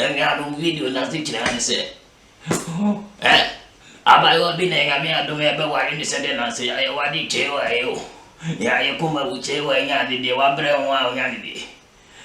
Anuanom video no ase kyerɛ ne sɛ eh, abaayewa bi na Nyame adom ɛbɛware ne sɛ dɛ nanso yɛayɛ wade kyɛe wɔ ayɛ o. Yɛayɛ kɔma wu kyɛe wɔ anya ade deɛ wabrɛ ho a onya ne deɛ.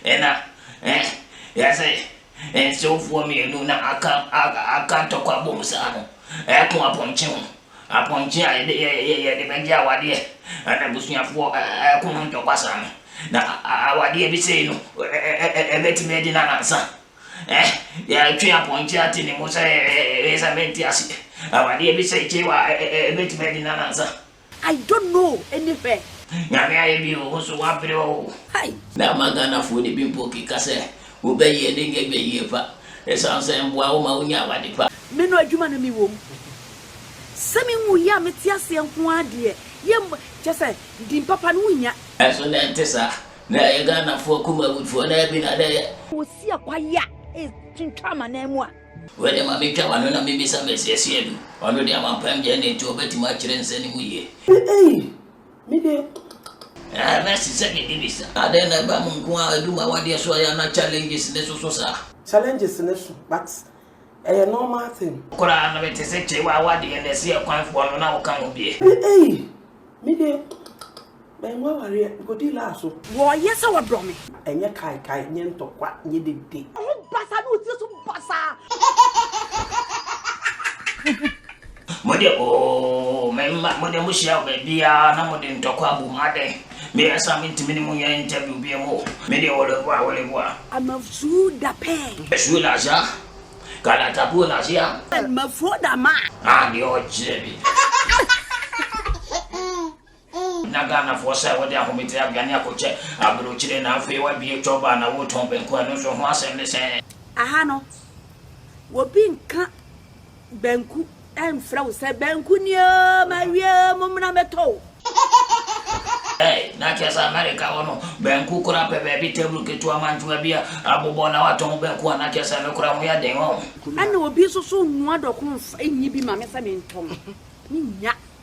Nna eh yɛdze nsewfoɔ mmienu na aka aka aka ntɔkwa abom saa no ɛko apɔnkye ho. Apɔnkye a yɛde yɛ yɛ yɛde bɛgye awadeɛ ɛna abusuafoɔ ɛ ɛ ɛko ho ntɔkwa saa no. Na a a awadeɛ bi sei no ɛ ɛ ɛ ɛ ɛbɛtumi adi no anansa. Eh yɛtwe apɔnkye ate ne mu sɛ eh eh eh eh sɛ mente aseɛ. Awadeɛ bi sei kyewa ɛ ɛ ɛ ɛbɛtumi adi no anansa. I don't know any her. Nyame ayɛ bi o wo so w'abre oo. Hai! Na ama Ghana foɔ no bi mpo keka sɛ wo bɛ yie ne nyɛ bɛ yie pa ɛsiane sɛ ɛmboa wo ma wo nya awade pa. Me no adwuma na me wom. Sɛ me nwui a me te aseɛ nko ara deɛ yɛ mb kyɛ sɛ din papa no wo nya. Ɛnso na ɛnte saa. Na ɛyɛ Ghanafoɔ kumawudfoɔ na ɛbi na na ɛyɛ. Ɔsi akwayaa ɛretwintwa amanaman mu a. Wei de ma metwa m'ano na mibisa Mesiesi adu? Ɔno de amampam gyae na enti ɔbɛtumi akyerɛ nsa no mu yie. Eei! Me de. Ɛɛ Mercy sɛ me bibisa. Adɛn na ɛba mo nko ara adwuma awadeɛ so a yɛ a na challenges no soso saa? Challenges no so but ɛyɛ normal thing. Koraa na mete sɛ kyerewa awadeɛ na ɛsi ɛkwan foɔ no na woka ho bie. Eei! Me de, mangu awareɛ, mekɔdii laa so. Wɔyɛ sɛ wɔdɔ me. Ɛnyɛ kaekae, nyɛ ntɔkwa, nyɛ dede. Wo ho basaa ne wo tiri so basaa. Mo de oo, me mma, mo de mohyia wɔ baabiara na mode ntɔkwa abu mu adɛn? Me a saa mentumi ne mo nyɛ interview biom o, me deɛ wɔleboa, wɔleboa. Amafsuo da pɛɛ. Ɛsuo da saa. Kalatapuo na se a. Mafuo da ma. A deɛ ɔkyerɛ bi. Na Ghanafoɔ sɛ wode ahometeɛ aduane akɔkyɛ aburokyire na afei wabue chop a na wotɔn banku ɛno nso ho asɛm ne sɛn? Aha no obi nka banku. Ɛmfrɛ wo sɛ, Banku ni o, mawie o, mommra mmɛtɔ o. Ei, na kyerɛ sɛ Amerika hɔ no, banku koraa pɛ baabi table ketewa mantsewa bi a abobɔ na wɔatɔn banku a na kyerɛ sɛ ɛno koraa ho yɛ den, wahu. Ɛnna obi nso so nnoa dɔko mfa nnye bi mma me sɛ mentɔn. Mennya.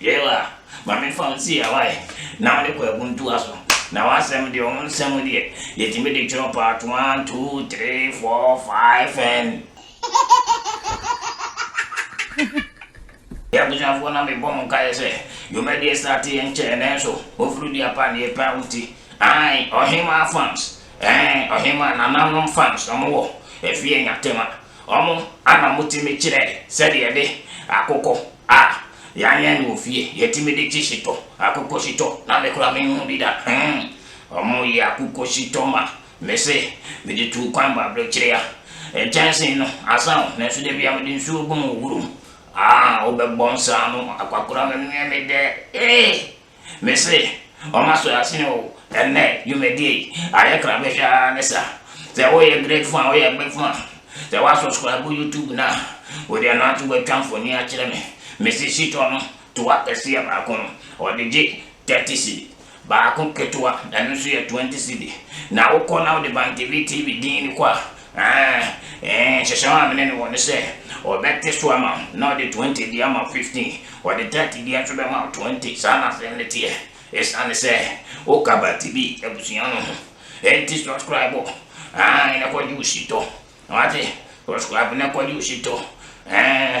Yɛɛ wa ma me fa wo nsi awae na wode kɔ aguntuwa so na w'asɛm deɛ ɔmo nsɛm deɛ yɛtumi de twerɛ part one two three four five and Abusuafoɔ na mebɔ mo nkaeɛ sɛ dwumadie starte yɛ nkyɛɛ nanso ofiri dua pa ne yɛpɛ wo ti ae ɔhemaa fans ɛɛ ɔhemaa nananom fans ɔmo wɔ ɛfie nyatema ɔmo ana motumi kyerɛ sɛdeɛ yɛde akokɔ A, yɛanyɛn no wɔ fie, yɛtumi de kye shito, akokɔ shito, na me koraa menhuu bi da, hmm, wɔyɛ akokɔ shito ma me se mede tuu kwan ba abirekyere a, nkyɛnsee no asa o, nanso da biara mede nsuo gu mu woro mu, a, wobɛbɔ nsaano, akwakoraa menoɛ me dɛ, ee, Mese wɔn aso asen o, ɛnnɛ dwumadie yi ayɛ krabɛhwɛ ara ne sa. Sɛ woyɛ great fan, woyɛ big fan, sɛ wa subscribe YouTube no a, wo deɛ no ara nso watwa mfoni akyerɛ me. Mese shitɔ no, toa kɛseɛ baako no, wɔde gye thirty cedi, baako ketewa, ɛno nso yɛ twenty cedi. Na wokɔ na wode Bantv TV din no kɔ a, Aane, nhyehyɛeɛ a me ne no wɔ ne sɛ, ɔbɛte so ama wo, na ɔde twenty de ama wo fifteen, ɔde thirty biara nso bɛma wo twenty, saa na asɛm no teɛ, ɛsiane sɛ woka Batibi abusua no ho nti, subscribe o, aane, na kɔgye wo shito, wate, subscribe na kɔgye wo shito, aane.